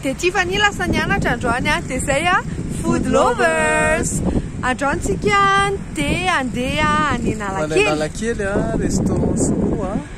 dia Tiffany lasa nianatra androany a dia zay a food lovers androany tsika dia andeha any analakely analakely a restaurant sinoa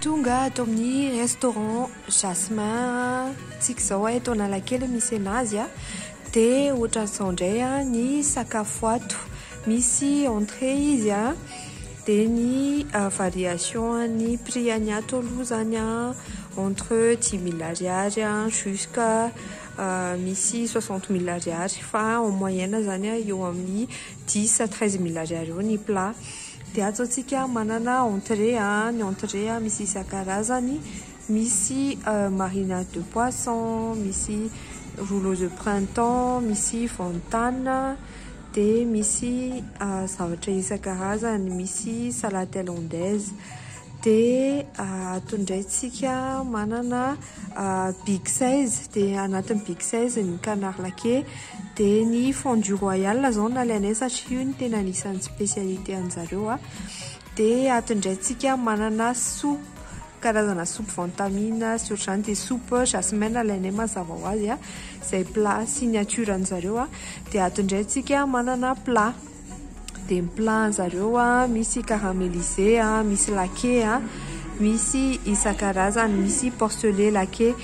Tonga ato amin'ny restaurant Jasmin tsika izao eto Analakely misy an'azy a, dia ohatran'izao indray ny sakafo ato, misy entrée izy a, dia ny variation an'ny prix an'ny ato aloha izany a, entre dimy mille ariary jusqu'à misy soixante mille ariary fa en moyenne zany a eo amin'ny dix à treize mille ariary eo ny plat de ato zao tsika manana entrée a ny entrée a misy isan-karazany misy marinade de poisson misy rouleau de printemps misy vantana de misy zavatra isan-karazany misy salade thaïlandaise Dia ato indray tsika manana big size dia anatin'ny big size ny canard laqué dia ny fondue royale izao no nalainay satria io no tena anisan'ny spécialité anjareo a. Dia ato indray tsika manana soupe karazana soupe van tan min sy ohatr'izany dia soupe jasmin no nalainay mazava ho azy a izay plat signature anjareo a. Dia ato indray tsika manana plat. Dia ny plat anjareo misy caramelise, misy lake, misy isan-karazany, misy porcele lake.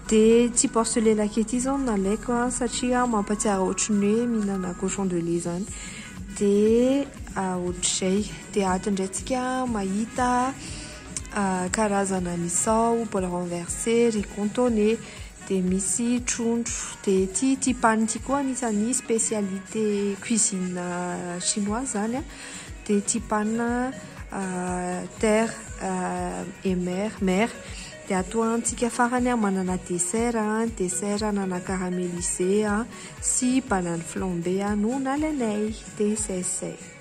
Dia ity porcele lake ity izao no nalaiko satria mampahatsiaro ohatry ny hoe mihinana cochon de lait izany. Dia ohatr'izay. Dia ato indray tsika mahita karazana misao, bol renverse, riz contoné. Dia misy trondro. Dia ity ity pan ity koa anisan'ny spécialité cuisine chinoise izany a. Dia ity pan terre et mer, mer. Dia atoantsika farany a, manana dessert, dessert anana caramélisé sy banane flambée no nalainay. Dia izay sy izay.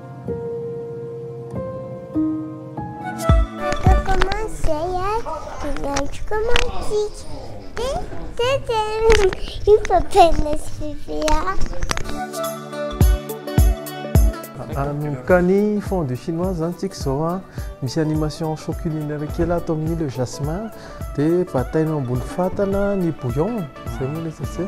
Manomboka ny fondue chinoise zany tsika izao a, misy animation show culinaire kely ato amin'ny le jasmin, dia batainao ambony fatana ny bouillon, izay moa ilay izy aty a.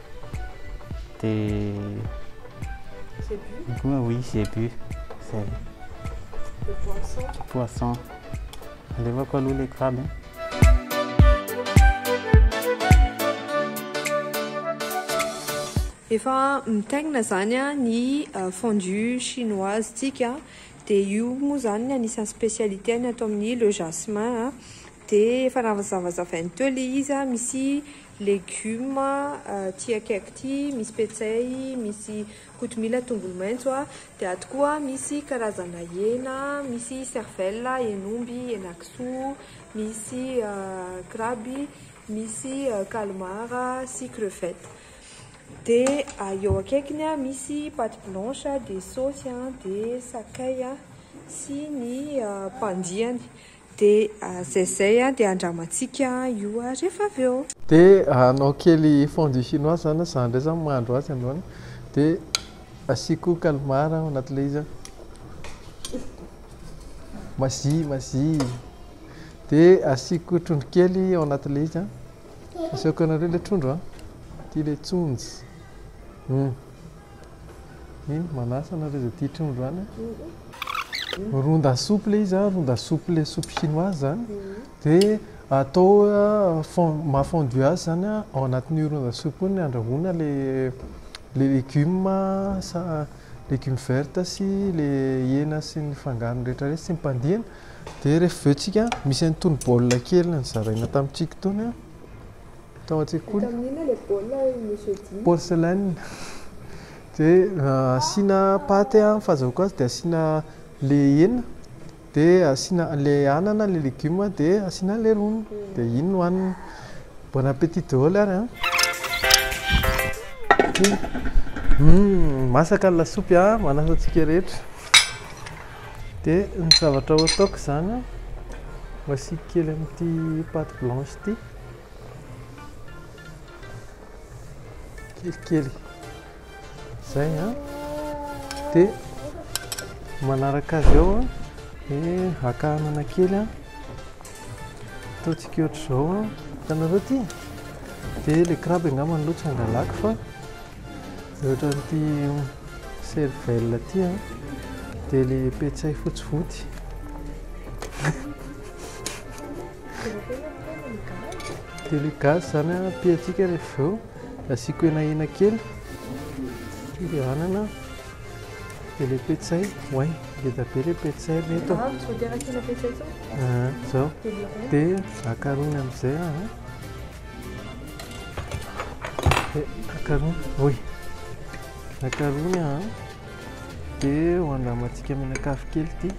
Dia koa oui zebu zay. De poisson. De poisson. Alevako aloha le crabe. Efa mitaingina zany ny euh, fondue chinoise tsika dia io moa zany ny anisan'ny spécialité ny ato amin'ny le jasmin dia efa nazavazavainy teo le izy misy Legioma aty akaiky ty misy petsay, misy kotomila, tongolo maintso a, de aty koa misy karazana hena, misy cervelle, hen'omby, henakisoa, misy kraby, misy calmar sy crevette. De eo akaikiny a misy pate blanche de saosy a de sakay a sy ny pandiany. Dia zay zay an, dia andramantsika io rehefa avy eo. Dia hanao kely fondue chinoise zany aho, za ndray zany mahandro azy androany, dia asiako calmar ao anaty le izy an, mazi mazi, dia asiako trondro kely ao anaty le izy an, asehoko anareo le trondro an, ty le tsonjy, humm. Iny manasa anareo izay tia trondro any an! Ronda souple izy an, ronda souple soupe chinoise zany dia atao fon- maha fondue azy zany an, ao anatin'io ronda souple io no andrahoina le le legioma sa legioma verte sy le hena sy ny fangarony rehetra rehetra sy ny pandiany dia rehefa avy eo tsika misy an'itony bol kely nozaraina tamintsika itony an, Tao an-tsekoly. Vita amin'inona ilay baolina hoy Monsieur Dimy? Porcelaine. Dia asiana paty an, fazahoako azy dia asiana ilay hena, dia asiana ilay anana, ilay legioma, dia asiana ilay rony. Dia iny no hanina. Bon appétit daholo ary an! Masaka ny lasopy an, manasa antsika rehetra. Dia ny zavatra ho ataoko izany an, ho asiako kely amin'ity pâte blanche ity, kelikely izay an, dia manaraka azy eo an, dia haka anana kely an, ataontsika ohatr'izao an, hitanareo ity? Dia ilay crabe angamba aloha tsy hangalako fa. Ny otran'ity cervelle ity a dia le petsay fotsy voty. Dia le gasy zany a piatsika rehefa avy eo asiako hena hena kely dia le anana dia le petsay oay ngeda be le petsay ry reto a. Zao dia akarohina amin'izay a. Akarony, oy. Akarony an. Dia ho andramantsika menakavy kely ity.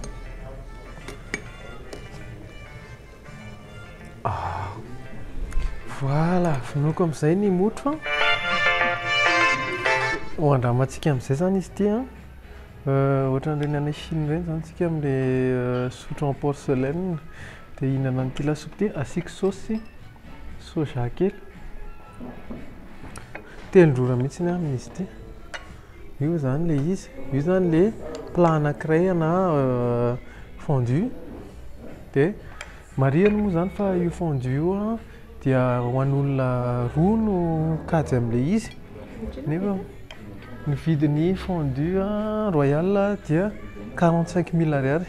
Ah. Voilà, vonoiko amin'izay ny motro. Ho andramantsika amin'izay izany izy ity an. Euh, ohatran'ireny any Chine ireny izany tsika amin'ilay euh, sotro en porcelaine. Dia hihinana an'ity lasopy ity asiako saosy soja kely. Telin-drora mihitsy ny aminy izy ity. Io izany ilay izy. Io izany ilay plat anankiray na euh, fondue. Dia marihana moa izany fa io fondue io Dia ho an'olona roa no kajy amin'ilay izy nefa ny vidin'ny fondue royal dia quarante cinq mille ariary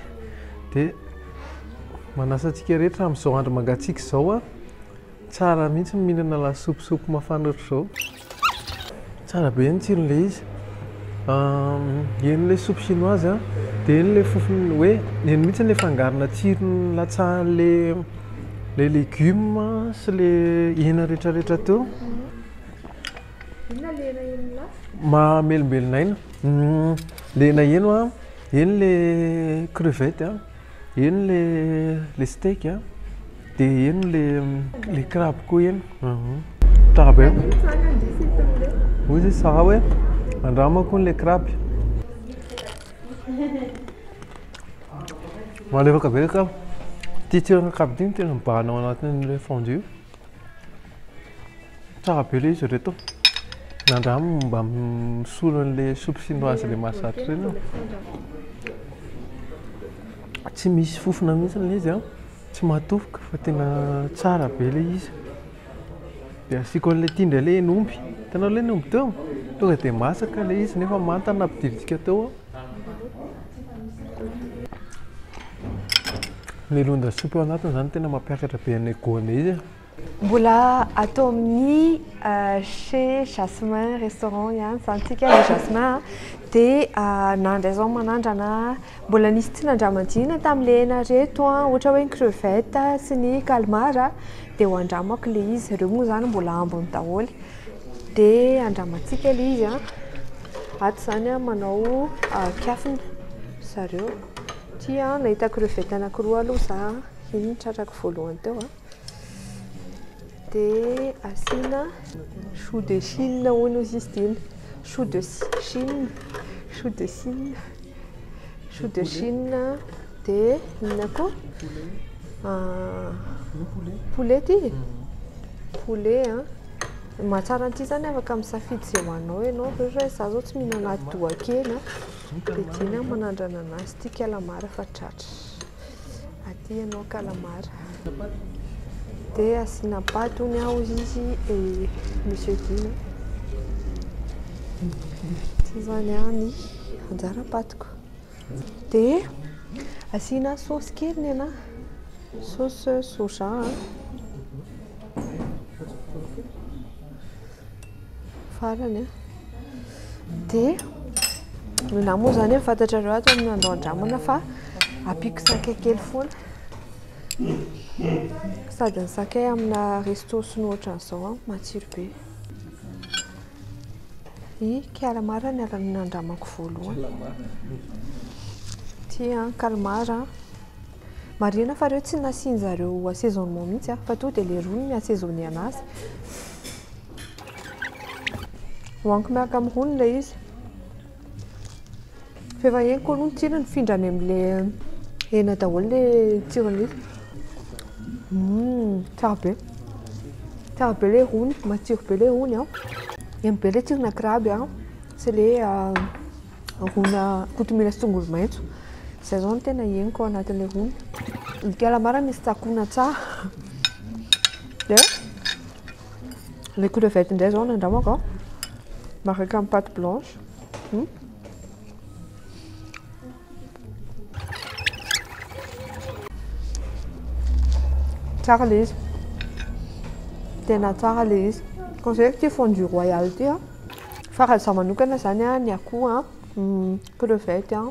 dia manasa antsika rehetra amin'izao andro mangatsiaka izao tsara mihitsy ny mihinana lasopy sopy mafana ohatr'izao. Tsara be ny tsirony le izy. Eny le soupe chinoise a, de eny le fofony hoe eny mihitsy le fangarona tsirony latsahan'le le legioma sy le hena rehetra rehetra teo. Inona le hena eny la? Mahamelombelona aina. Le hena heno a, eny le crevette a. Eny le le steak a, de eny le le crabe koa eny. Aha. Tsara be. Hoy izy Sarah hoe andramako le crabe. Malefaka be le crabe. Ty tsiron'ny crabe ty no tena mibahana ao anatin'le fondue. Tsara be ilay izy ireto. Nandramo mba misolo an'ilay soupe chinoise ilay mahazatra ireny aho. Tsy misy fofona mihitsy ilay izy an. Tsy mahatofoka fa tena tsara be ilay izy. Dia asiako an'ilay ity indray ilay hena omby. Hitanao ilay hena omby teo? Tonga dia masaka ilay izy nefa manta nampidivitsika teo aho. Ny londa soupe ao anatiny izany tena mampiakatra be an'ilay goanay izy e. Mbola atao amin'ny chez Jasmin restaurant ihany izany tsika le Jasmin a, dia nandray zao manandrana mbola nisy tsy nandramadina tamin'ilay hena reto a, ohatra hoe ny crevette sy ny calmar dia ho andramako le izy, ireo moa izany mbola ambiny daholo. Dia andramantsika ilay izy an, ato izany an manao kiafina ry zareo, ity an nahita crevettes anankiroa aloha za an, iny no tratrako voalohany teo an, dia asiana choux de chine hono hozy izy ity, choux de chine, choux de chine, choux de chine an, dia inona koa? poulet ity e, poulet an. Ny mahatsara an'ity izany afaka misafidy izay ho anao ianao, ohatra hoe izaho izao tsy mihinana adohan-kena dia tianao ny manandrana an'azy, tia calamar fa tratra, aty ianao calamar dia asiana paty hono ao izy et monsieur Gina, ity izany ny anjara patiko. Dia asiana saosy kely ny anà, saosy soja a. Farany a. Dia ny anà moa izany efa fantatrareo ato amin'ny andao andramana fa ampiako sakay kely foana. Sady ny sakay aminà resto sy ny ohatran'izao a, matsiro be. I Kalmar ny anarana nandramako voalohany. Ty an, Kalmar an. Marihina fa reo tsy nasiany zareo assaisonnement mihitsy an, fa to dia le rony mi assaisonner anazy. Hoaniko miaraka amin'ny rony ilay izy. F'efa henoko aloha ny tsirony, mifindra any amin'ilay hena daholo ilay tsiron'ilay izy. Tsara be. Tsara be ilay rony, matsiro be ilay rony an. Eny be ilay tsirona crabe an, sy ilay ronà kotomila sy tongolo maitso. Izay izao no tena henoko ao anatin'ilay rony. Ny calamar misy tsakoana tsara. Le crevette indray zao no andramako an. Miaraka amin'ny pâte blanche. Hmm. Tsara le izy. Tena tsara le izy. Conseilleko ity fondue royale ity an. Fa raha izaho manokana izany an, ny akoho an, hmm, crevette an.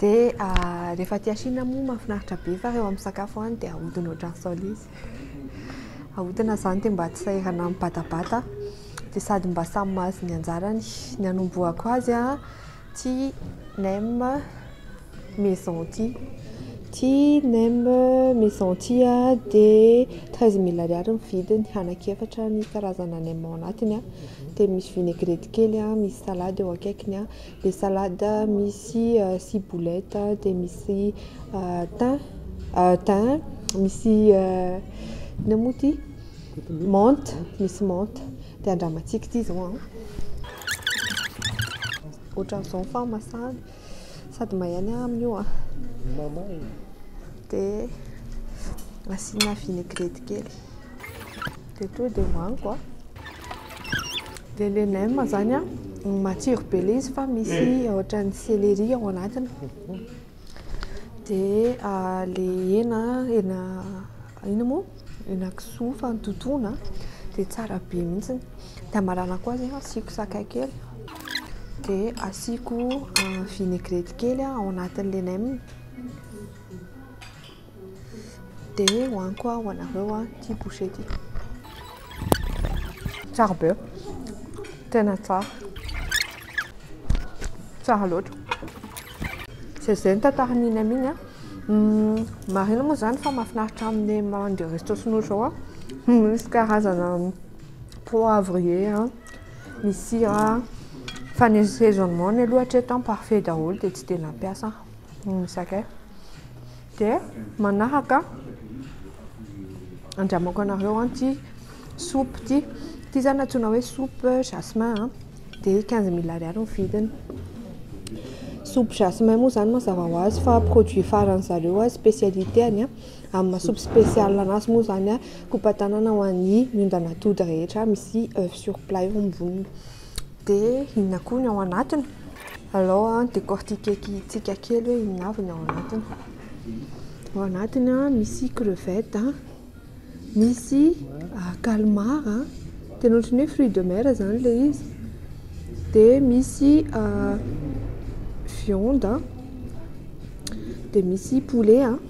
Dia rehefa aty Shina moa mahafinaritra be fa rehefa misakafo any dia ahodina ohatran'ny saole izy. Ahodina izany dia mba tsy sahirana mibatabata dia sady mba samy mahazo ny anjarany. Ny anombohako azy ity nem maison ity. Ity nem maison ity dia treize mille ariary ny vidiny, anankiefatra ny karazana nem ao anatiny dia misy vinaigrette kely, misy salady eo akaikiny. Dia salade misy ciboulette dia misy thym, thym, misy inona moa ity? menthe, misy menthe. Dia andramantsika ity izao an! Ohatran'izao ny fahamasahany, sady may ihany amin'ny io an! Mamay! Dia asiana vinaigrette kely. Dia tonga dia hohaniko an. Dia le nem zany an, matsiro be le izy fa misy ohatran'ny céleri ao anatiny. Dia ah, le hena, hena inona moa? Hena kisoa efa nototoina dia tsara be mihitsy. Dia hamaranako azy an, asiako sakay kely, dia asiako vinaigrette kely ao anatin'le nem. De hoaniko ho anareo an ity boucher ty. Tsara be, tena tsara, tsara loatra. Zay zay ny tantaran'ny iny amin an. Marina moa zany fa mahafinaritra amin'ny mandeha resto sinoa zao an, misy karazana poivrier an, misy sira an, fa ny sezonmony aloha hatreto an parfait daholo dia tsy dia nampiasa aho. Ny Zahay dia manahaka andramoako anareo ity soupe ity. Ity izany antsoina hoe soupe jasmin dia quinze mille ariary ny vidiny. Soupe jasmin moa izany mazava ho azy fa produit faran'ny zareo, spécialité-ny amin'ny maha soupe spéciale anazy moa izany kopa-tanana ho an'ny ondan'atody rehetra misy sur plat eo amboniny. Dia inona koa ny ao anatiny? Alao an décortiquer tsika kely hoe inona avy ny ao anatiny. Ao anatiny an misy crevette an, misy ah, calmar an, tena ohatran'ny hoe fruit de mer izany ilay izy. Dia misy ah, viande an, dia misy poulet an,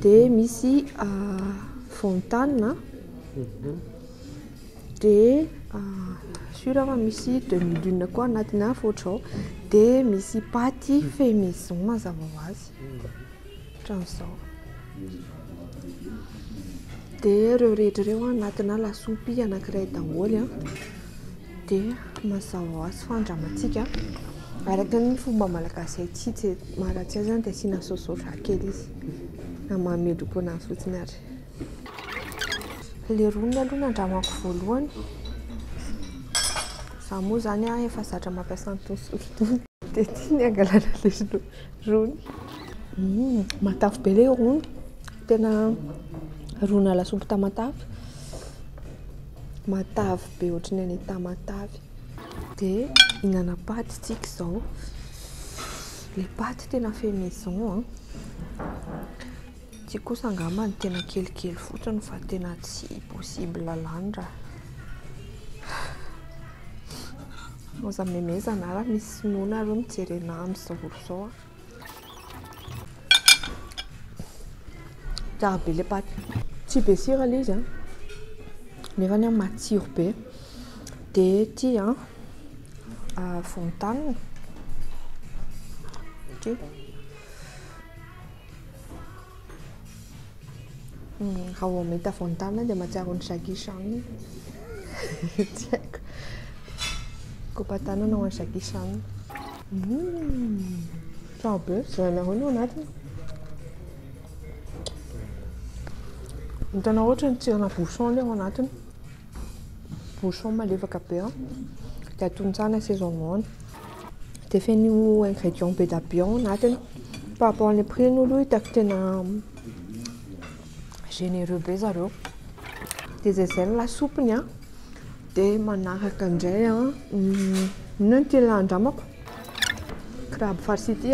dia misy ah, van tan an. Dia sur aho fa misy demi lune koa anatin'ny afo ohatr'izao. Dia misy paty fait maison mazava ho azy, ohatran'izao. Dia ireo rehetra ireo anatinà lasopy anankiray daholo. Dia mazava ho azy fa andramantsika araka ny fomba malagasy haintsika tsy, maha-ratsy azy dia asiana saosisaosy kely izy, na mahamendri-po anazy fotsiny ary. Le roniny aloha no andramako voalohany. Za moa zany an efa zatra mampiasa an'itony solika itony. Dia ty ny hangalana le rony. Hum, matavy be le rony. Tena ronina lasopy tamatave. Matavy be ohatran'ny any Tamatave. Dia hihinana paty tsika izao. Le paty tena fait maison an. Ity kosa angamba no tena kelikely fotsiny fa tena tsy possible lany ra aza memezana ra misy sinoa nareo mijery anah amizao olo zao a. Tsara be le paty. Tsy be sira le izy a, nefany a matsiro be, de ity a volontany ity. Raha vao mahita von Damme aho dia mahatsiaro an'i Jackie Chan aho. Tsy haiko. Kopa-tanana ho an'i Jackie Chan. Tsara be. Jereo ny ao anatiny. Hitanao ohatran'ny tsirona bouchon ilay ao anatiny. Bouchon malefaka be dia atontsahana saisonement. dia feno ingrédients be dia be ao anatiny par rapport any prix ny aloha hitako tena généreux be zareo dia izay izay ny lasopy ny ahy dia manaraka indray inona no tena andramako crabe farci ity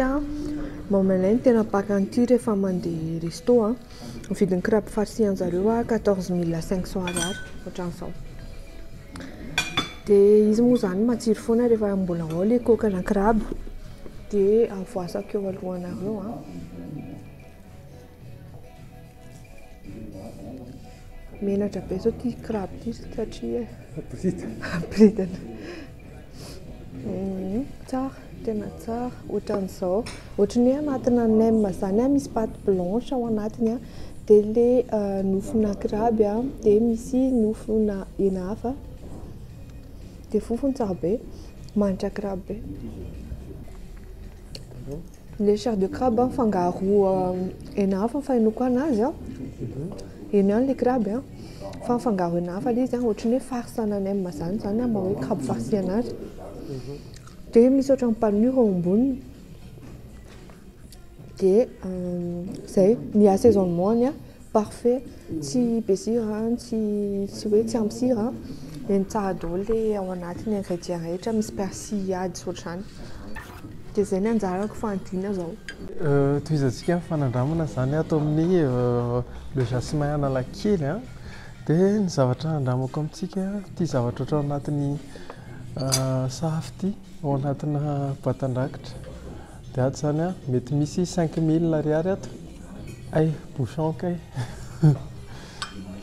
mamelay ny tena mpaka an'ity rehefa mandeha resto an, ny vidin'ny crabe farci anjareo quatorze mille cinq cents Ariary ohatran'izao Dia izy moa izany matsiro foana rehefa mbola ao ilay kôkana crabe, dia avoasako eo alohanareo an. Menatra be izao ity crabe ity satria boridana. Tsara, tena tsara, ohatran'izao, ohatry ny hoe anatinà nem izany misy pâte blanche ao anatiny a, dia ilay nofonà kraby a, dia misy nofonà hena hafa, dia fofony tsara be, mahantra kraby be. Le chair de crabe an fangaro hena hafa ny fahenoko anazy an, heno ihany le crabe an fa mifangaro hena hafa le izy an ohatran'ny hoe farce en anem zany zany ny maha hoe crabe farci anazy de misy ohatran'ny panure eo amboniny de zay ny assaisonnement-ny an. Parfait, tsy be sira an, tsy tsy hoe tsy ampy sira an, dia ny tsara daholo le ao anaty ny ingrédients rehetra, misy persil ady tsy ohatr'izany, dia zay ny anjarako fanadina zao. Tohizantsika ny fanandramana izany ato amin'ny le jasmin analakely an, dia ny zavatra handramako amintsika ity zavatra ohatra ao anatin'ny sahafa ity, ao anatina boatin-drakitra. Dia ato zany a, mety misy cinq mille ariary ato, hay bouchon kay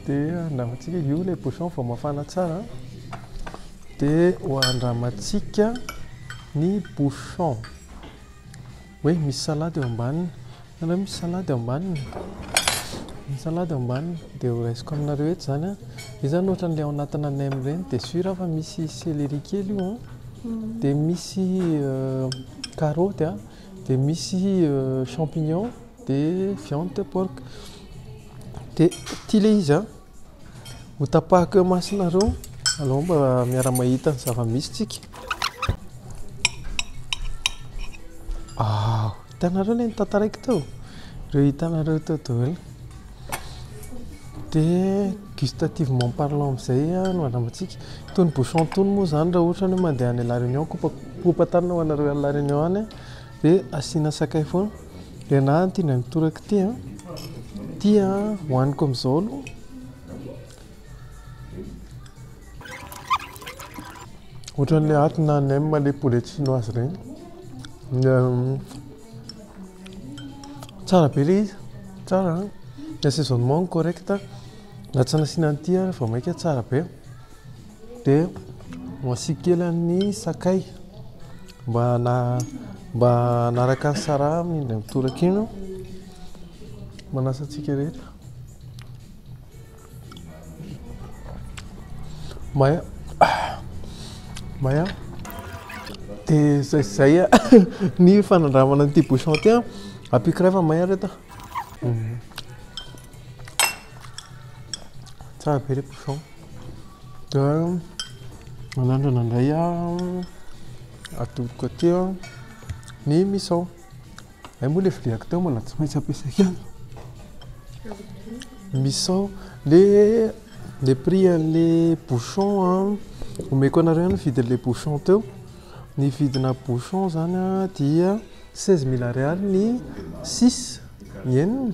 dia andramantsika, io ilay bouchon vao mafana tsara a, dia ho andramantsika ny bouchon, hoe misy salade eo ambaniny. Nareo misy salady ambaniny? Ny salady ambaniny dia ho raisiko aminareo eto izany an, dia izany ohatran'ilay ao anatina nem ireny dia sur aho fa misy céleri kely io an, dia misy karaoty an, dia misy champignon, dia viande de porc, dia ity ilay izy an. Ho tapahako eo masonareo alou mba miara mahita ny zava-misy tsika. Ah, hitanareo ilay nitantaraiko teo? Ireo hitanareo teo daholo. Dia gustativement parlant amin'izay no andramantsika. Itony bouchon itony moa izany raha ohatra hoe mandeha any La Réunion, kopa kopa tanana ho anareo any La Réunion any. Ve asiana sakay foana? Ry anah ity indray mitoraka ity an! Ity an hohaniko amin'izao aloha. Ohatran'ilay aty na nem ilay poulet chinoise ireny. Tsara be ilay izy, tsara an! Ny assaisonnement-ny correct, na tsy nasiana an'ity ary vao mainka tsara be. Dia asiako kely ny sakay mba mba hanaraka ny sara amin'ny indray mitoraka iny aho. Manasa antsika rehetra. Maya. Maya. Dia izay izay ny fanandramana an'ity bouchon ity. Ampiako iray fa may ary eto. Tsara be ilay bouchon. Dia manandrana indray aho, atodiko aty ny misao. Hay moa ilay viliako teo mbola tsy maintsy ampiasaiko ihany. Misao, ilay ilay prix an'ilay bouchon an, omeko anareo ny vidin'ilay bouchon teo. Ny vidinà bouchon izany an dia seize mille ariary ny six, ny enina.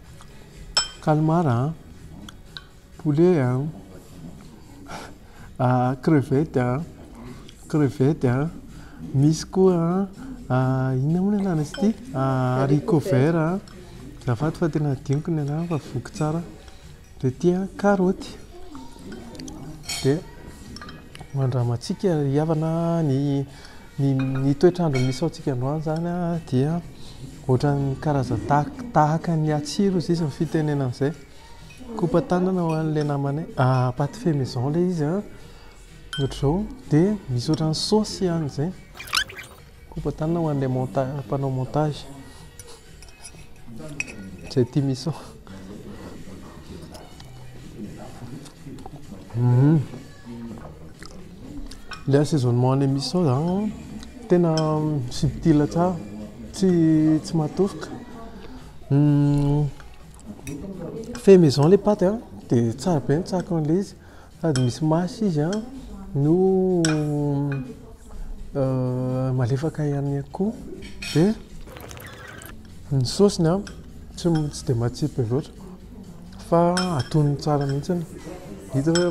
Calmar a, poulet a, crevette a, crevette a, misy koa inona moa ny anaran'izy ity haricots verts a, azafady fa tena hadinoko ny anarany fa voky tsara, dia ity a karaoty, dia mandramàntsika ry havana ny. Ny ny toetr'andro misy ao tsika androany zany a dia ohatran'ny karazany tahaka tahaka ny hatsiro izy izy ny fitenenana an'izay kopa tanana ho an'le namanay ah pâte fait maison le izy a ohatr'izao de misy ohatran'ny saosy ihany zay kopa tanana ho an'le monta- mpanao montage Zay tia miso. Mhm. Le assaisonnement anay miso zany tena subtil tsara, tsy tsy matofoka. Fait maison le paty a, de tsara be ny tsaroko an'le izy. Sady misy maso izy an, no malefaka ihany koa. Dia ny saosiny an, tsy tsy dia matsiro be loatra fa atonony tsara mihitsy. Hita hoe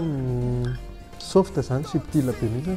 soft izany, subtil be mihitsy.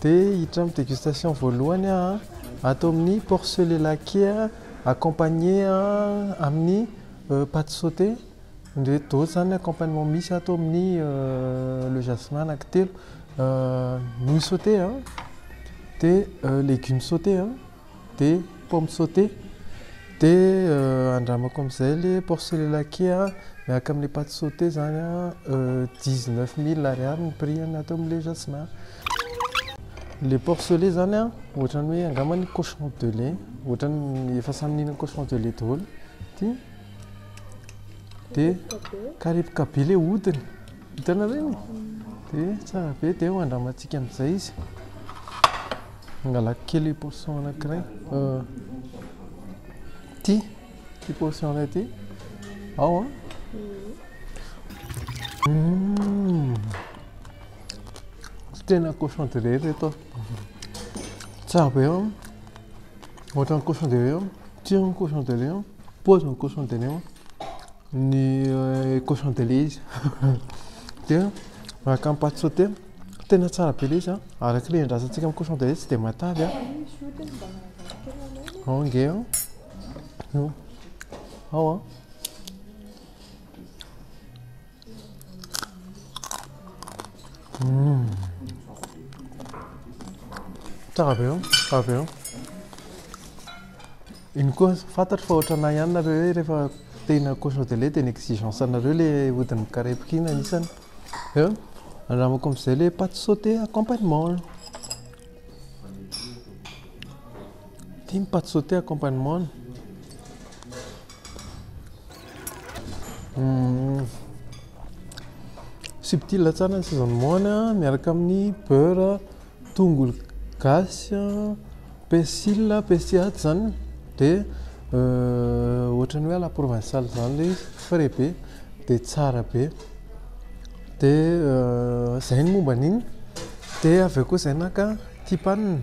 Dia hiditra amin'ny dégustation voalohany aho ato amin'ny porc le laqué accompagné amin'ny pate sautée ireto daholo izany ny accompagnement misy ato amin'ny le jasmin anankitelo nouilles sautées dia legumes sautées. dia pomme sautée dia andramako amin'izay ilay porc de laqué miaraka amin'ny pâte sautée izany dix neuf mille ariary ny prix ato amin'ilay jasmin an, ilay porc de lait izany an ohatran'ny hoe angamba ny cochon de lait ohatran'ny efa samy nihinana cochon de lait daholo ity dia mikarepoka be ilay hodiny. Vitanareo iny? Dia tsara be dia eo andramantsika amin'izay izy. Hangalako kely io portion anankiray. Ity, ity portion iray ity. Ao an. Hum. Tena cochon de riz reto. Tsara be eo. Ohatran'ny cochon de riz eo. Tsiron'ny cochon de riz eo. Paozin'ny cochon de riz eo. Ny cochon de lait izy dia araka ny pâte sautée tena tsara be ilay izy araka ilay andrasantsika amin'ny cochon de lait tsy dia matavy ao ange ao ao a hmm. tsara be ao tsara be ao Iny koa fantatro fa ohatranà ihany nareo hoe rehefa te hihinana cochon de lait dia ny exigence anareo le hodiny mikarepoka iny anisany. Eo, andramako amizay le pate sautée accompagnement. Ty ny pate sautée accompagnement. Subtil tsara ny sezamon-ny miaraka amin'ny beurre Tongolo gasy a, persil a, persil atsy izany dia ohatran'ny hoe à la provinciale izany ilay izy, frais be dia tsara be. Dia izay ny momba an'iny. Dia avy eo koa izay naka tipanina.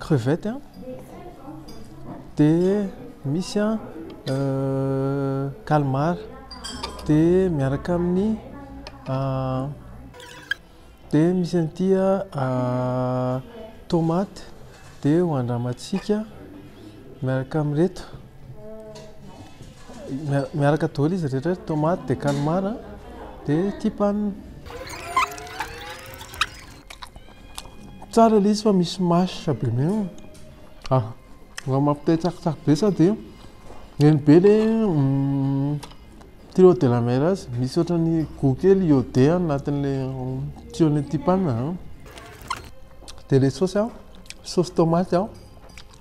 Crevette an, dia misy an calmar, dia miaraka amin'ny dia misy an'ity an tomate, dia ho andramantsika miaraka amin'ireto, miaraka daholo izy rehetra reto, tomate dia calmar dia thym pan. Tsara ilay izy fa misy mâche be mi ah raha mampite hitsakitsaky be sa dia eny be le tuyau de la mer azy misy ohatran'ny gout kely iodé anatin'ilay tuyau-n'ilay tip an dia ilay saosy an saosy tômaty an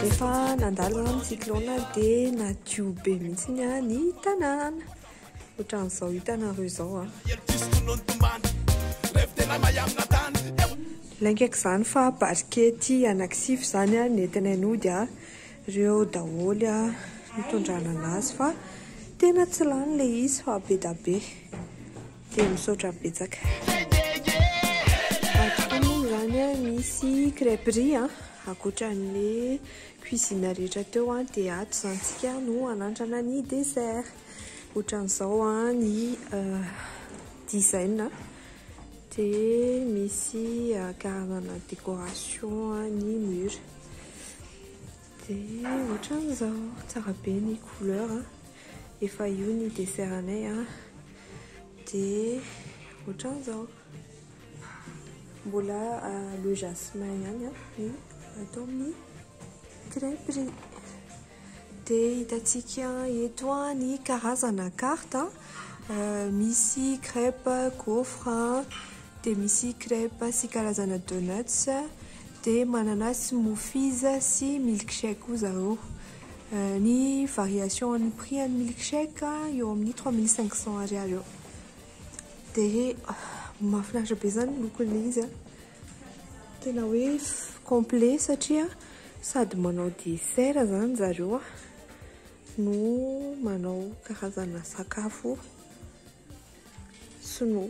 Rehefa nandalo ny cyclone dia nadio be mihitsy ny tanàna. Ohatran'izao hitanareo izao. Laingaiko izany fa barikety anankisivy izany nentinay nody ireo daholo nitondranana azy fa tena tsy lany ilay izy fa be dia be. Dia misaotra betsaka. Ato koa moa izany misy crêpe riz a, ankoatran'ny cuisine rehetra teo a, dia ato izany isika no hanandrana ny dessert. Ohatran'izao ny design, dia misy karazana décoration ny mur. Dia ohatran'izao, tsara be ny couleur. Efa io ny dessert anay a. Dia ohatran'izao. Mbola le jasmin ihany ny atao amin'ny crêperie. Dia hitantsika eto ny karazana karta. Misy crêpe gaufre, dia misy crêpe sy karazana donuts, dia manana smoothies sy milkshake koa zareo. Ny variation an'ny prix an'ny milk shake eo amin'ny trois mille cinq cents ariary eo. Dia mahafinaritra be izany ny lokon'ilay izy an! Tena hoe complet satria sady manao dessert izany zareo an, no manao karazana sakafo sinoa.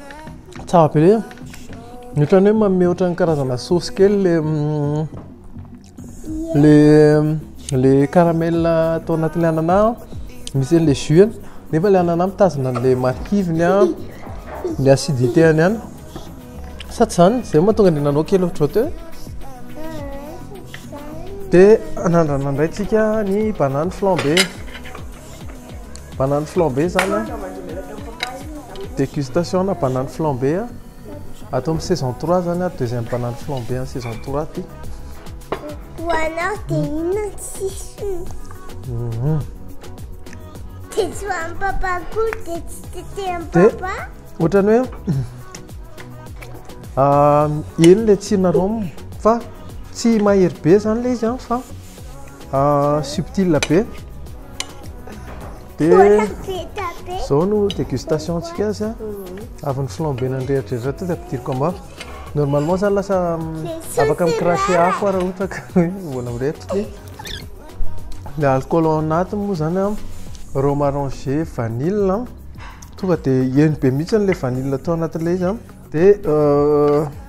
Tsara be le. Ny ohatran'ny hoe manome ohatran'ny karazana sauce kely le mm, le le caramel atao anatin'ny anana misy an'le jus nefa le anana mitazona an'le marikiviny a, ny acidité any any. Sa tsy zany? Zay mahatonga an'i nanao kely ohatrohateo. Dia anandrana indray tsika ny banane flambée. Banane flambé zany a. Dégustation na banane flambé a. Ato amin'ny saison 3 zany a, deuxième banane flambé en saison 3 ty. Ho anao dia hmm. inona ny sisiny? Mhm. Dia tsy ho an'ny papa koa dia tsy tetehan'ny papa? Ohatrany hoe ah, eny le tsina rhum fa tsy mahery be zany le izy an ah, fa Ah, subtil be. Dia izao no dégustation antsika azy ah. Mhm. Avy ny flambé nandrehadrehatra teo dia ampidiriko amin'ny afo. Normalement zany lasa mm, afaka mi-cracher afo ah, raha ohatra ka hoe mbola mirehitra dia le alcool ao anatiny moa zany ah, rhum arrangé, vanille ah. Tonga dia heno be mihitsy le vanille tao anatin'ilay izy ah. Dia euh,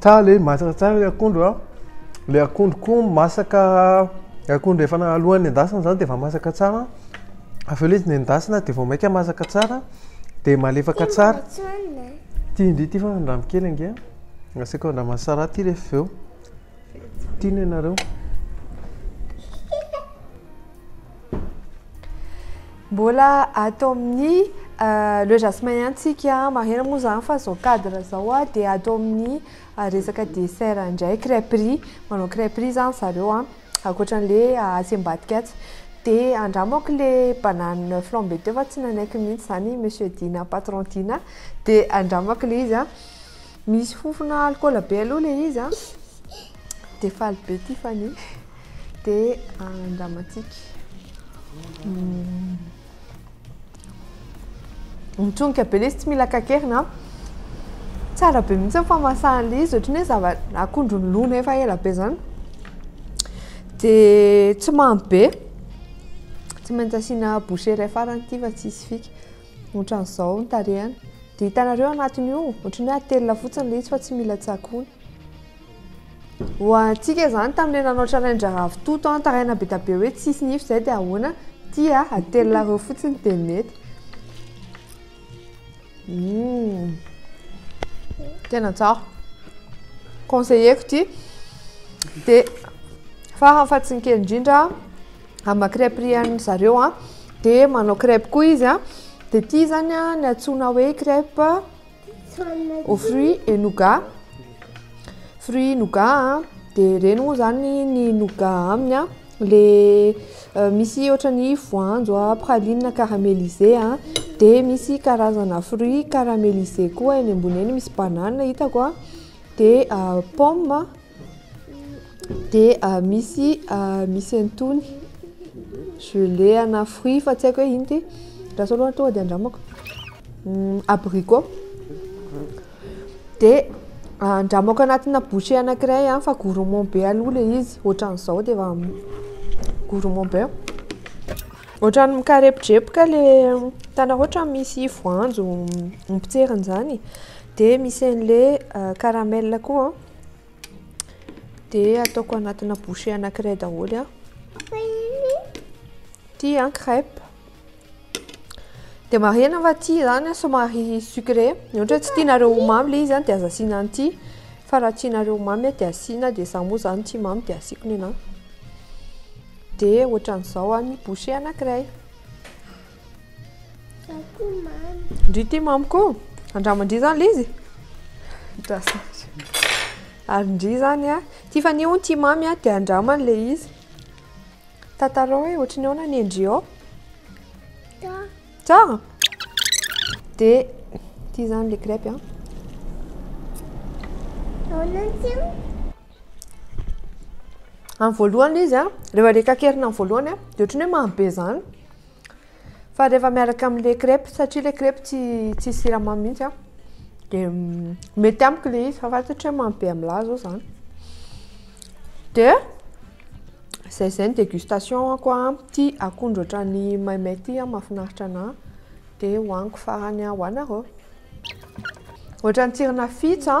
Tsara ilay izy, masaka tsara ilay akondro a. Ilay akondro koa masaka, ilay akondro efa na- alohan'ny endasina izany dia efa masaka tsara. Avy eo ilay izy nendasina dia vao mainka masaka tsara dia malefaka tsara. Ity indry ity fa andramo kely ange a. Asiako andraman'ny Sarah ity rehefa avy eo. Tiana ianareo? Mbola ato amin'ny euh, le jasmin ihany tsika marihana moa zany fa zao cadre zao a dia ato amin'ny euh, resaka dessert indray crêperie manao crêperie zany zareo a ankoatra an'le euh, asiam-badika atsy dia andramako le banane flambée teo fa tsy nanaiky mihitsy zany monsieur Dina patron Dina dia andramako le izy a Misy fofona alcool be aloha le izy a. Dia faly be Tiffany. Dia andramantsika. Hmm. Mitsonika be le izy tsy mila kakerina. Tsara be mihitsy ny famasahan'le izy ohatry ny hoe akondro nolona efa ela be zany. Dia tsy mamy be. Tsy maintsy asiana bouche iray farany ity fa tsy hisy fika. Otran'izao ny tarehany. Dia hitanareo anatiny io, ohatry ny hoe atelina fotsiny ilay izy fa tsy mila tsakoana. Ho antsika izany tamin'ilay nanao challenge-rahavo toto an, taraina be dia be hoe tsisy nify izay dia ahoana? Tia, atelina roa fotsiny dia mety. Hmm. Tena tsara. Conseiller-ko ity. Dia farany fa tsy ny kely indrindra, Amba crêpe rian'ny zareo a. Dia manao crêpe koa izy a. Dia ity izany a ny antsoina hoe crêpe aux fruits et nougat. Fruits nougat a. Dia ireny moa izany ny nougat aminy a. Ilay misy ohatran'ny voanjo a, praline caramélisée a. Dia misy karazana fruits caramélisés koa eny ambony eny, misy banane hitako a. Dia pomme. Dia misy misy an'itony gelée ana fruit fa tsy haiko hoe ino ity, raha sao loatra tonga dia andramako, abricot, dia andramako anatina bouchée anankiray fa gourmand be aloha ilay izy, ohatran'izao dia efa gourmand be, ohatran'ny mikarepojepoka ilay tana ohatran'ny misy voanjo mipotserina izany dia misy an'ilay caramel koa. dia ataoko anatina bouchée anankiray daholo an ty an crêpe dia marihana fa ty izany an somary sucré ny ohatra tsy tianareo ho mamy ilay izy an dia aza asiana an'ity fa raha tianareo ho mamy an dia asiana dia izaho moa izany tia mamy dia asiako ny anah dia ohatran'izao an ny bouchée anankiray Ndry ity mamiko andramandry zany le izy ary ndry zany a Tiffany hono tia mamy a dia andramany le izy tantarao hoe ohatry ny ahoana ny endry ao tsara dia ity zany le crêpe a Amin'ny voalohany izy a, rehefa rekakerina amin'ny voalohany a, dia ohatran'ny hoe mamy be izany. Fa rehefa miaraka amin'ilay crêpe satria ilay crêpe tsy tsisy siramamy mihitsy a, dia mety amiko ilay izy fa fantatro hoe mamy be amin'ilay ahy izao izany. Dia izay izay ny dégustation-ko a, ity akondro ohatran'ny maimay ity a, mahafinaritra anahy, dia hohaniko farany ho anareo. Ohatran'ny tsirona fitsa.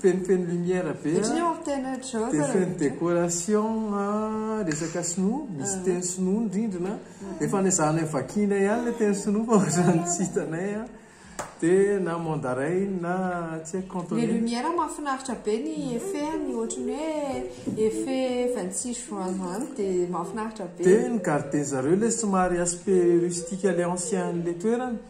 Fenofeno lumière be a. Ohatran'ny hoe mampiaina ohatry zao zalahy. Fenofeno décoration a, resaka sinoa, misy teny sinoa ny rindrina. Efa any ezahanay vakiana ihany ilay teny sinoa fa ohatran'ny tsy hitanay a. Dia na mandarin na tsy haiko cantonais. Ny lumière mahafinaritra be ny effet-ny, ohatran'ny hoe effet vingt six juin izany dia mahafinaritra be. Dia ny gardien zareo ilay somary aspect rustique ilay ancien an'ilay toerana.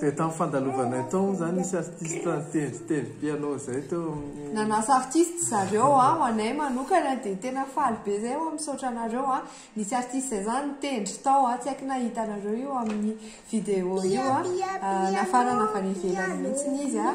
Dia tamin'ny fandalovanay tao moa izany nisy artista nitendry tendry piano izay teo amin'ny. Nanasa artiste zareo a, ho anay manokana dia tena faly be izay hoa misaotra anareo a, nisy artiste izay izany nitendry tao a, tsy haiko na hitanareo io amin'ny vidéo io a, nafarana avy any ivelany mihitsy izy a,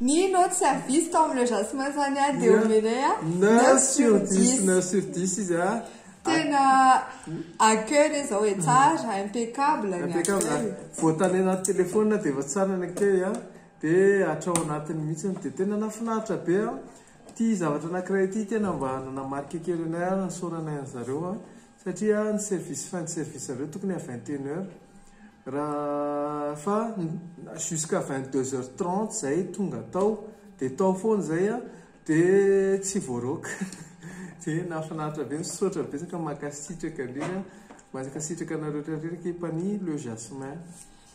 Mino aho tsy avis tao amin'ilay jasmin zany a dia omenay a neuf sur dix. Neuf sur dix izy a. Tena accueil re zao e, tsara, impeccable ny accueil. Voatale anaty téléphone dia efa tsara ny accueil a, dia hatrao anatiny mihitsy dia tena nahafinaritra be aho. Ity zavatra anankiray ity tena mba nanamarika kely anay ary nisaoranay an'zareo a, Satria ny service fin de service nareo tokony à vingt et une heures raha fa jusqu'à vingt deux heures trente zay tonga tao de tao foana zay an de tsy voaroaka de nahafinaritra be misaotra betsaka mankasitraka indrindra mankasitraka anareo rehetra rehetra ekipan'ny le jasmin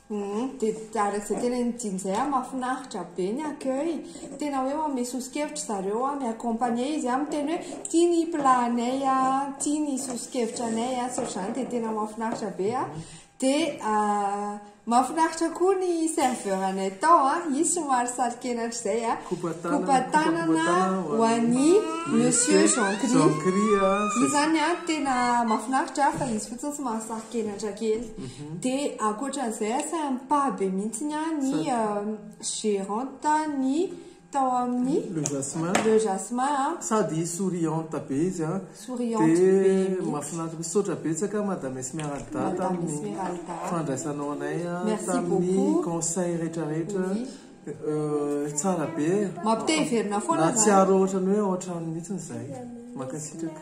Humm dia arakaizay tena ny dimy zay a mafinaritra be ny accueil tena hoe manome soso-kevitra zareo a mi-accompagner izy a miteny hoe ity ny plat anay a ity ny soso-kevitra anay a tsy ohatr'izany dia tena mafinaritra be a dia mafinaritra koa ny serveur anay tao a izy somary saro-kenatra izay a kopa-tanana ho an'i monsieur Jean Cris izy zany a tena mafinaritra fa izy fotsiny somary saro-kenatra kely Dia ankoatran'izay asa mipah be mihitsy ny ahy ny gerante ny tao amin'ny Le Jasmin. Le Jasmin a. Sady souriante be izy a. Souriante be mihitsy. Dia mahafinaritra. Misaotra betsaka Madame Esmeralda tamin'ny fandraisanao anay tamin'ny conseils rehetra rehetra. Tsara be e. Mampite hiverina foana zany. Nahatsiaro ohatran'ny hoe ao an-trano mihitsy izay. Mankasitraka.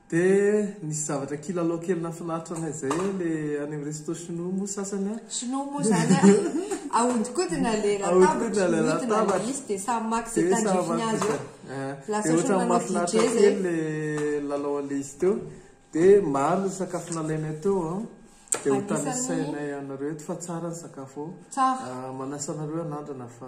Dia nisy zavatra kilalao kely nafinaritra anay zay hoe le any amin'ny resto chinois moa sasany an. Chinois moa zany an, ahodikodina le latabatra, mihodina le izy dia samy maka ze tandrifiny azy eo. Lasa ohatran'ny manao DJ zay. Dia ohatran'ny mafinaritra kely le lalao anle izy teo. Dia maro ny sakafo nalainay teo an. Dia ho tanisainay anareo eto fa tsara ny sakafo ao. Tsara. Manasa anareo hanandrana fa.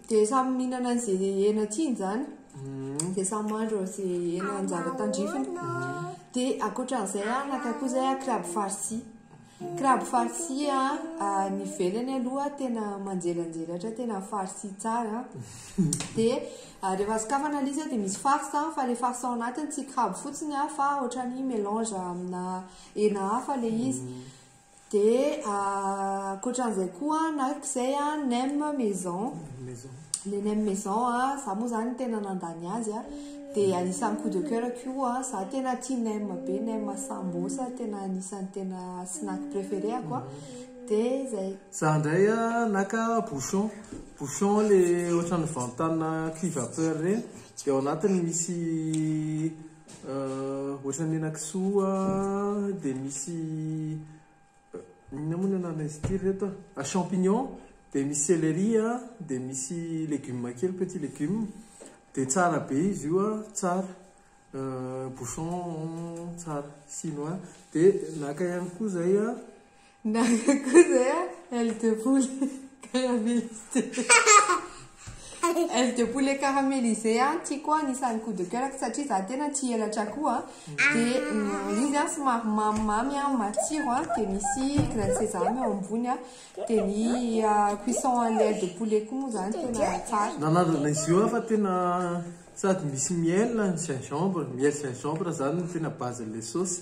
Dia samy mihinana izay hena tiany izany, mm. dia samy mandro izay hena anjara tandrifiny. Dia ankoatran'izay an, naka koa izay kraby farsi. Kraby farsi an, ny velany aloha tena manjelanjelatra, tena farsi tsara. Dia rehefa sokafana ilay izy dia misy farce an, fa ilay farce ao anatiny tsy kraby fotsiny an, fa ohatran'ny melange amina hena hafa ilay izy. Mm. Dia ankoatran'izay koa an, araka izay an, nem maison, ilay nem maison an, izaho moa izany tena nandany azy an, dia anisan'ny coup de coeur koa an, izaho tena tia nem be, nem sambos tena anisan'ny tena snack préféré-ako an, dia izay. Izaho indray an, naka bouchon, bouchon ilay ohatran'ny vantana cuve à peur ireny, dia ao anatiny misy. Ohatran'ny henakisoa dia misy inona moa ny anaran'izy ity ry reto a? Ah, champignon dia misy céleri a, dia misy légumes kely petit légumes. Dia tsara be izy io a, tsara. Bouchon tsara, chinois. Dia naka ihany koa izay a. Gaga koa zay a, aile de poule caramélisée. Aile de poulet caramélisé an, tiako an, isan'ny coup de coeur satria za tena tia elatra akoho an. Dia mm, izy an somary mamimamy an, matsiro an, dia misy grain de sésame eo ambony an. Dia ny ah, cuisson an'ilay aile de poulet koa moa zany tena tsara. Nanandrana izy io aho fa tena sady misy miel ny gingembre, miel gingembre zany no tena base an'ilay saosy.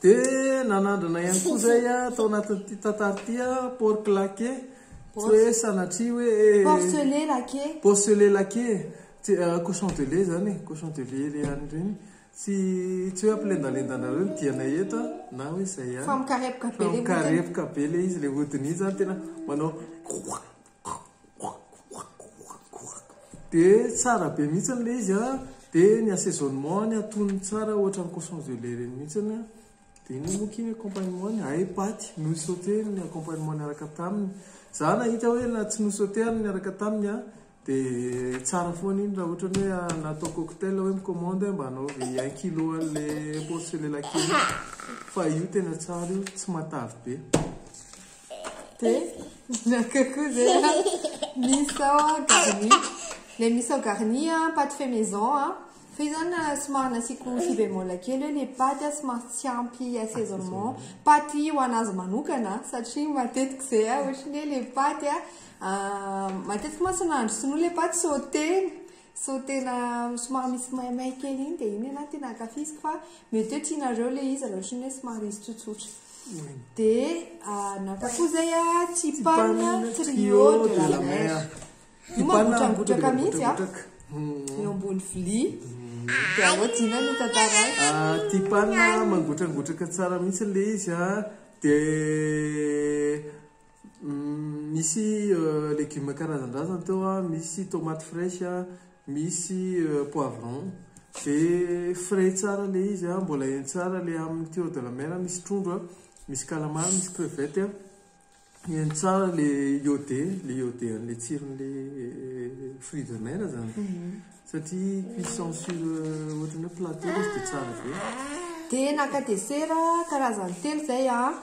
Dia nanandrana ihany koa izay tao anatin'ity tantara ity porc laqué, tsy hoe sanatria hoe Porcelet laqué. Porcelet laqué, cochon de lait izany e, cochon de lait ilay an'ireny. Tsy tsy hoe ampilendalendanareo ny dianay eto na hoe izay ihany. Fa mikarepoka be ilay hodiny. Fa mikarepoka be ilay izy, ilay hodiny iny izany tena manao. Dia tsara be mihitsiny ilay izy an, dia ny assaisonnement-ny atonony tsara ohatran'ny cochon de lait ireny mihitsiny, dia inona moa ity accompagnement-ny? Hay paty nosautena ny accompagnement niaraka taminy, izaho nahita hoe na tsy nosautehana niaraka taminy an, dia tsara foana iny raha ohatra hoe natao cocktail hoe mi-commande mba anaovy un kilo an'ilay porcelet laqué iny, fa io tena tsara io, tsy matavy be. Dia naka koa zay misao garni. Ilay misao garni paty fait maison a. Fa io zany somary nasiako si bémol kely hoe ilay paty a somary tsy ampy assaisonnement. Paty ho an'azy manokana satria matetika izay a ohatran'ny hoe ilay paty a matetika mantsy nahandro sinoa ilay paty sautena. Sao tena somary misy maimay kely iny dia iny ialahy tena ankafiziko fa mety hoe tianareo ilay izy raha ohatran'ny hoe somary izy tsotsotra. Dia ah, naka koa izay ah, Tipan Trio de la Mer. Io mangotragotraka mihitsy ah, hmm. eo ambony vilia. Dia ahoa Jina no tantara azy. Ah, Tipan mangotragotraka tsara mihitsy ilay izy ah. Dia Misy legioma karazan-drazany teo an, misy tomates fraiche an, misy poivron, dia frais tsara ilay izy an, mbola heno tsara ilay amin'ny tuyau de la mer an, misy trondro an, misy calamar, misy crevettes an, heno tsara ilay iode, ilay iode an'ilay tsiron'ilay fruits de mer izany, satria cuisson sur ohatran'ny hoe plateau ilay izy dia tsara be. Dia naka dessert karazany telo izay aho an,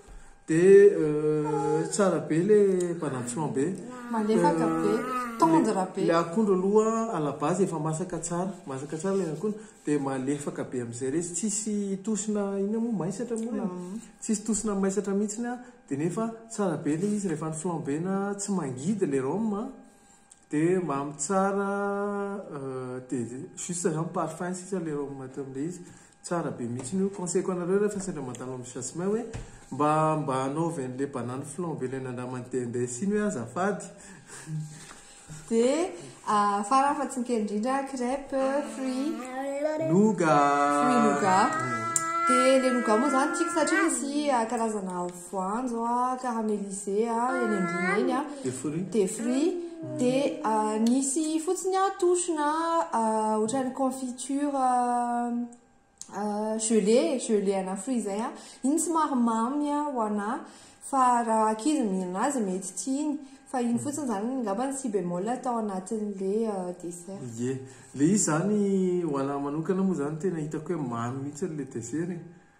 De euh, tsara be le balançon be. Malefaka euh, be, tendre be. Le akondro aloha à la base efa masaka tsara, masaka tsara le akondro de malefaka be amizay retsy, tsisy tosina ina moa maisatra moa le. Mm. Tsisy tosina maisatra mihitsy a, de nefa tsara be le izy rehefa ny flamber na tsy mangidy le rhum a. De mamy tsara de juste zany parfum sisa le rhum maty amle izy tsara be mihitsy io conseil-ko anareo rehefa sendra mandalo am jasmin hoe mba mba anaovy anle banane flambe le nandramany dendesse iny hoe azafady de farany fa tsy ny kely indrindra crepe fruit nougat fruit nougat de le nougat moa zany tiako satria misy karazana voanjo a, caramélisé a, eny ambony eny a, Des fruits. des fruits, dia ah, nisy fotsiny aho touche na ah, ohatran'ny confiture ah, ah, gelée, gelée ana fruits izay a, iny somary mamy a ho anà, fa raha ankizy mihinana azy mety tiany, fa iny fotsiny izany angamba ny si bémol tao anatin'ilay ah, dessert. Ie. Ilay izy izany ho anà manokana moa izany tena hitako hoe mamy mihitsy ilay dessert e.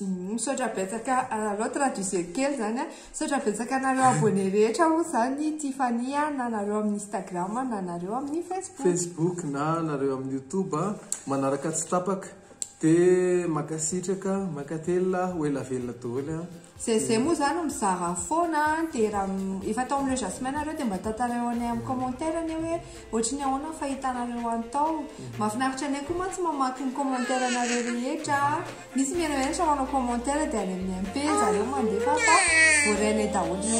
Misaotra betsaka anareo traduisez kely zany a. Misaotra betsaka anareo abonné rehetra moa zany Tiffany a, na anareo amin'ny Instagram na anareo amin'ny Facebook. Facebook na anareo amin'ny YouTube a, manaraka tsy tapaka. Dia mankasitraka, mankatelina, ho ela velona daholo a. Zezé moa zany mizara foana an, dia raha efa tao amin'ireo Jasmin nareo dia mba tantarao anay amin'ny commentaire anie hoe ohatry ny ahoana ny fahitanareo any tao. Mhm. Mahafinaritra anay koa mantsy mamaky ny commentaire nareo rehetra an, misy mihenoheno sao manao commentaire dia any amin'ny MP zareo mandefa fa voarainay daholo.